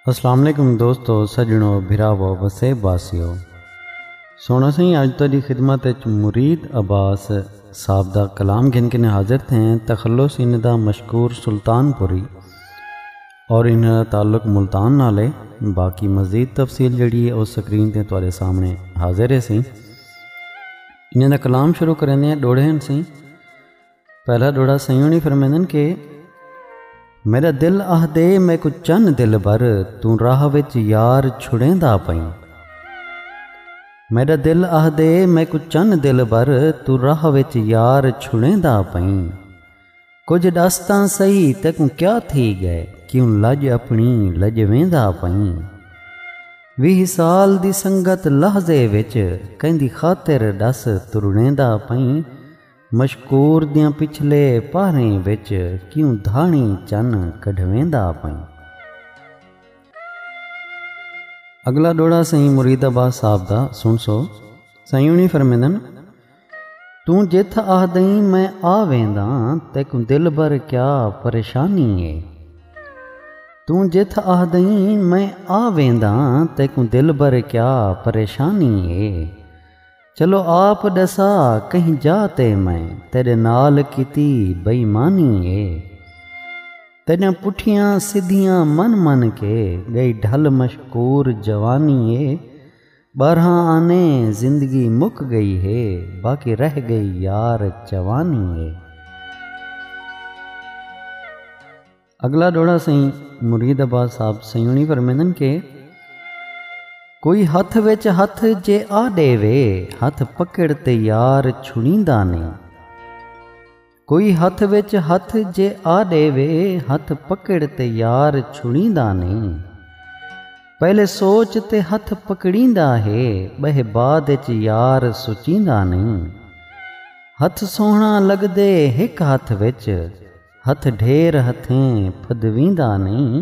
السلام علیکم دوستو سجنو بھراو وسے باسیو سونا سائیں اج تیری خدمت وچ مرید عباس صاحب دا کلام گھن کے حاضر تھے تخلص ان دا مشکور سلطان پوری اور ان تعلق ملتان نال ہے باقی مزید تفصیل جڑی ہے اس سکرین تے تارے سامنے حاضر ہے سی انہیں دا کلام شروع کریں دیں ڈوڑے ہیں سی پہلا ڈوڑا سیوں نہیں فرمیں دیں کہ میرا دل آہ دے میں کو چن دل بر توں راہ وچ یار چھڑیں دا پائیں میرا دل آہ دے میں کو چن دل بر توں راہ وچ یار چھڑیں دا پائیں کجھ ڈس تاں سہی تیکوں کیا تھی گئے کیوں لج اپنی لج ویندا پئیں ویہ سال دی سنگت لحظے وچ کیندی خاطر ڈس ترڑیندا پئیں مشکور دیاں پچھلے پہریں وچ کیوں دھاڑیں چن کڈھویندا پئیں اگلا ڈوڑا سائیں مرید عباس صاحب دا سن سو سائیں انہی فرمیندن توں جتھ آہدئیں میں آ وینداں تیکوں دلبر کیا پریشانی اے توں جتھ آہدئیں میں آ وینداں تیکوں دلبر کیا پریشانی اے چلو آپ ݙسا کہیں جا تے میں تیݙے نال کیتی بئیمانی اے تیݙیاں پٹھیاں سدھیاں من من کے ڳئی ڈھل مشکور جوانی اے۔ ٻارہاں آنے زندگی مک ڳئی ہے باقی رہ ڳئی یار جوانی ہے۔ اڳلا ݙوہڑا سئیں مرید عباس صاحب سیوݨی فرمیندن کہ۔ کوئی ہتھ وچ ہتھ جے آ ݙیوے ہتھ پکڑ تے یار چھڑیندا نئیں۔ کوئی ہتھ وچ ہتھ جے آ ݙیوے ہتھ پکڑ تے یار چھڑیندا نئیں پہلے سوچ تے ہتھ پکڑیندا ہے ٻہہ بعد اچ یار سچیندا نئیں ہتھ سوہݨا لڳدے ہک ہتھ وچ ہتھ ڈھیر ہتھیں پھدویندا نئیں۔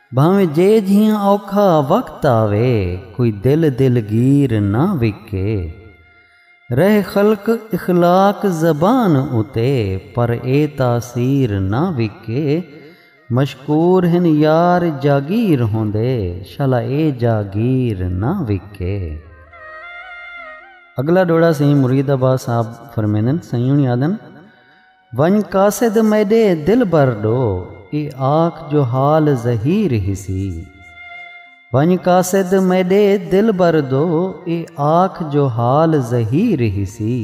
بھانویں جے جھیاں اوکھا وقت آوے کوئی دل دلگیر نہ وکے رہے خلق اخلاق زبان اتے پر اے تاثیر نہ وکے مشکور ہن یار جاگیر ہوندے شالا اے جاگیر نہ وکے۔ اگلا ڈوہڑا سئیں مرید عباس صاحب فرمیندن سئیں ہنی آدھن۔ ونڄ قاصد میݙے دلبر ݙو اے آکھ جو حال زہیر ہیسی ونڄ قاصد میݙے دلبر ݙو اے آکھ جو حال زہیر ہیسی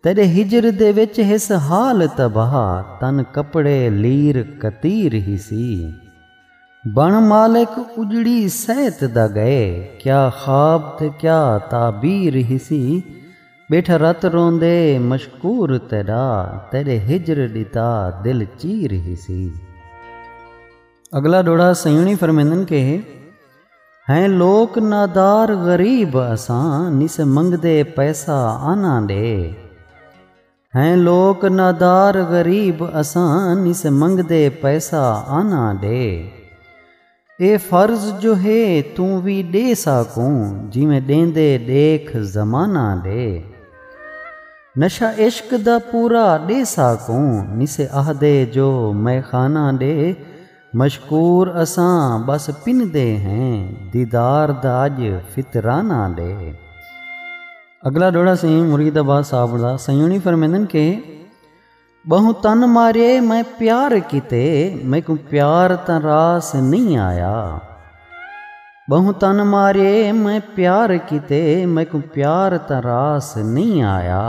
تیݙے ہجر دے وچ ہس حال تباہ تن کپڑے لیر کتیر ہیسی بݨ مالک اڄڑی صحت دا ڳئے کیا خواب تے کیا تعبیر ہیسی۔ ٻیٹھا رت روندے مشکور تیݙا تیݙے ہجر ݙتا دل چیر ہیسی۔ اڳلا ݙوہڑا سئیوݨی فرمیندن کہ ہیں لوک نادار غریب اساں نیسے منگدے پیسہ آناں ݙے ہیں لوک نادار غریب اساں نیسے منگدے پیسہ آناں ݙے اے فرض جو ہے توں وی ݙے ساکوں جیویں ݙیندے ݙیکھ زمانہ ݙے نشہ عشق دا پورا ݙے ساکوں نسے آہدے جو مئے خانہ ݙے مشکور اساں ٻس پندے ہیں دیدار دا اڄ فطرانہ ݙے۔ اڳلا ݙوہڑا سئیں مرید عباس صاحب دا سئیں ہوݨی فرمیندن کہ۔ ٻہوں تن مارے میں پیار کیتے میکوں پیار تاں راس نہیں آیا ٻہوں تن مارے میں پیار کیتے میکوں پیار تاں راس نہیں آیا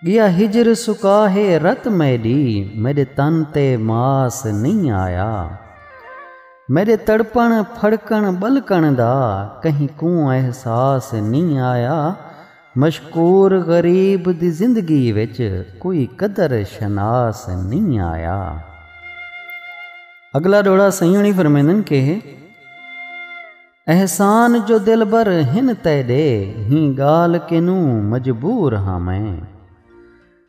ڳیا ہجر سکا ہے رت میڈی میڈے تن تے ماس نہیں آیا میڈے تڑپن پھڑکن ٻلکن دا کہیں کوں احساس نہیں آیا مشکور غریب دی زندگی وچ کوئی قدر شناس نئیں آیا۔ اگلا ڈوہڑا سئیوں نی فرمیندن کہ احسان جو دلبر ہن تیڈے ہی گال کنوں مجبور ہاں میں۔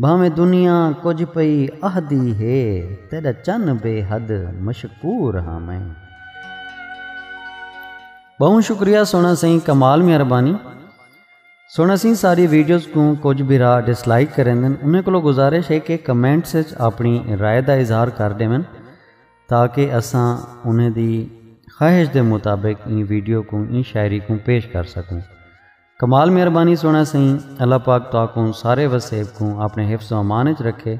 بھانویں دنیا کجھ پئی اہدی ہے تیڈا چن بے حد مشکور ہاں میں۔ ٻہوں شکریہ سوہݨا سئیں کمال مہربانی سوہݨا سئیں ساری ویڈیوز کوں کجھ بھرا ڈس لائک کریندن انہیں کولو گزارش ہے کہ کمنٹس اچ اپݨی رائے دا اظہار کر ݙیون تاکہ اساں انہیں دی خواہش دے مطابق ایں ویڈیو کوں ایں شاعری کوں پیش کر سکوں۔ کمال مہربانی سونا سئیں اللہ پاک تاکوں سارے وسیب کوں اپنے حفظ و امان وچ رکھے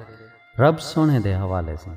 رب سونے دے حوالے سئیں